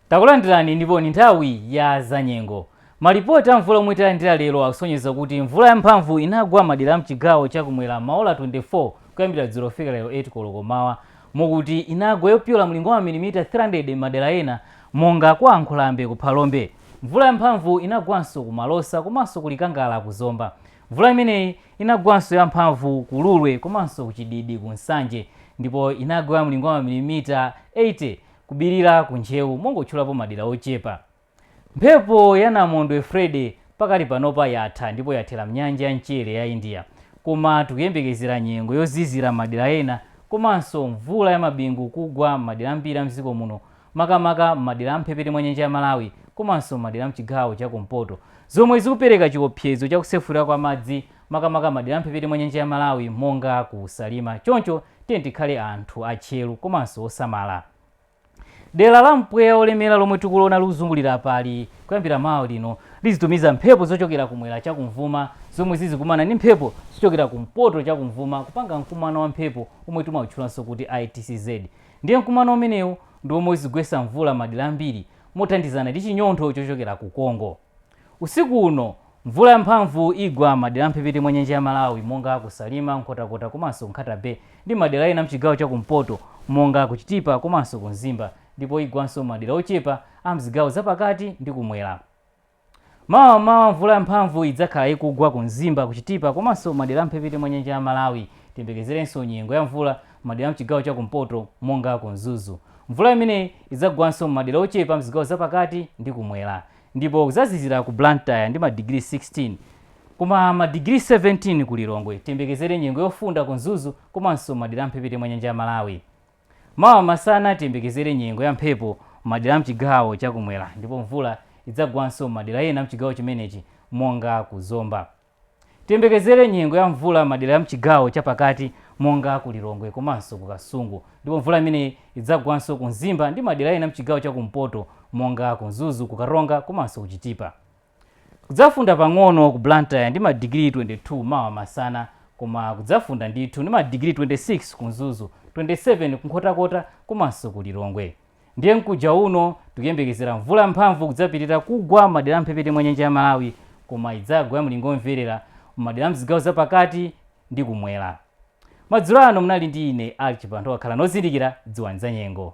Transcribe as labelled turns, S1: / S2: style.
S1: takulandirani ndipo ni nthawi ya zanyengo malipoti a mvula omwe talandira lero akusonyeza kuti mvula yamphamvu inagwa madera amchigawo chakumwera maola 24 kuyambira dzulo kufika lero 8 koloko mmawa mokuti inagwa yopyola mlingo wa mamilimita 300 mmadera ena monga kwa nkhulambe ku phalombe Mvula yamphamvu inagwanso ku Malosa komanso ku Likangala ku Zomba. Mvula imeneyi inagwanso yamphamvu ku Lulwe komanso ku Chididi ku Nsanje ndipo inagwa ya mlingo wa mamilimita 80 ku Bilira ku Ntcheu mongotchulapo madera ochepa. Mphepo ya namondwe Freddy pakadali panopa yatha ndipo yathera m'nyanja ya mchere ya India koma tikuyembekezera nyengo yozizira m'madera ena komanso mvula ya mabingu kugwa m'madera ambiri a m'dziko muno makamaka m'madera a m'mphepete mwa nyanja ya Malawi komanso m'madera a m'chigawo cha kumpoto, zomwe zikupereka chiopsezo cha kusefukira kwa madzi makamaka m'madera a m'mphepete mwa nyanja ya Malawi monga ku Salima. Choncho tiyeni tikhale anthu atcheru komanso osamala. Dera la mpweya wolemera lomwe tikuliona likuzungulira apali, kuyambira mawa lino lizitumiza mphepo zochokera kumwera cha kumvuma zomwe zizikumana ndi mphepo zochokera kumpoto cha kumvuma kupanga mkumano wa mphepo womwe timautchulanso kuti ITCZ. Ndiye mkumano umenewu ndi womwe uzigwetsa mvula m'madera ambiri mothandizana ndi chinyontho chochokera ku Congo. Usiku uno, mvula yamphamvu igwa m'madera a m'mphepete mwa nyanja ya Malawi monga ku Salima, Nkhotakota komanso Nkhata Bay ndi m'madera ena m'chigawo cha kumpoto monga ku Chitipa komanso ku Mzimba ndipo igwanso m'madera ochepa a m'zigawo zapakati ndi kumwera. Mawa m'mawa mvula ya mphamvu idzakhala ikugwa ku Mzimba, ku Chitipa komanso madera a m'mphepete mwa nyanja ya Malawi. Tiyembekezerenso nyengo ya mvula m'madera a m'chigawo cha kumpoto monga ku Mzuzu. Mvula imeneyi idzagwanso m'madera ochepa m'zigawo za pakati ndi kumwera. Ndipo kudzazizira ku Blantyre ndi madigiri 16 koma madigiri 17 ku Lilongwe. Tiyembekezere nyengo yofunda ku Mzuzu komanso madera a m'mphepete mwa nyanja ya Malawi. Mawa masana tiyembekezere nyengo ya mphepo m'madera a m'chigawo cha kumwera ndipo mvula idzagwanso m'madera ena a m'chigawo chimenechi monga ku Zomba. Tiyembekezere nyengo ya mvula m'madera a m'chigawo cha pakati monga ku Lilongwe komanso ku Kasungu ndipo mvula imeneyi idzagwanso ku Mzimba ndi madera ena a m'chigawo cha kumpoto monga ku Mzuzu, ku Karonga komanso ku Chitipa. Kudzafunda pang'ono ku Blantyre ndi ma digiri 22 mawa masana koma kudzafunda ndithu ndi ma digiri 26 ku Mzuzu, 27 ku Nkhotakota komanso ku Lilongwe. Ndiye mkuja uno tikuyembekezera mvula yamphamvu kudzapitirira kugwa m'madera a m'mphepete mwa nyanja ya Malawi koma idzagwa ya mlingo omverera m'madera a mzigawo za pakati ndi kumwera. Madzulo ano munali ndi ine Archie Banda khalani ozindikira dziwani za nyengo.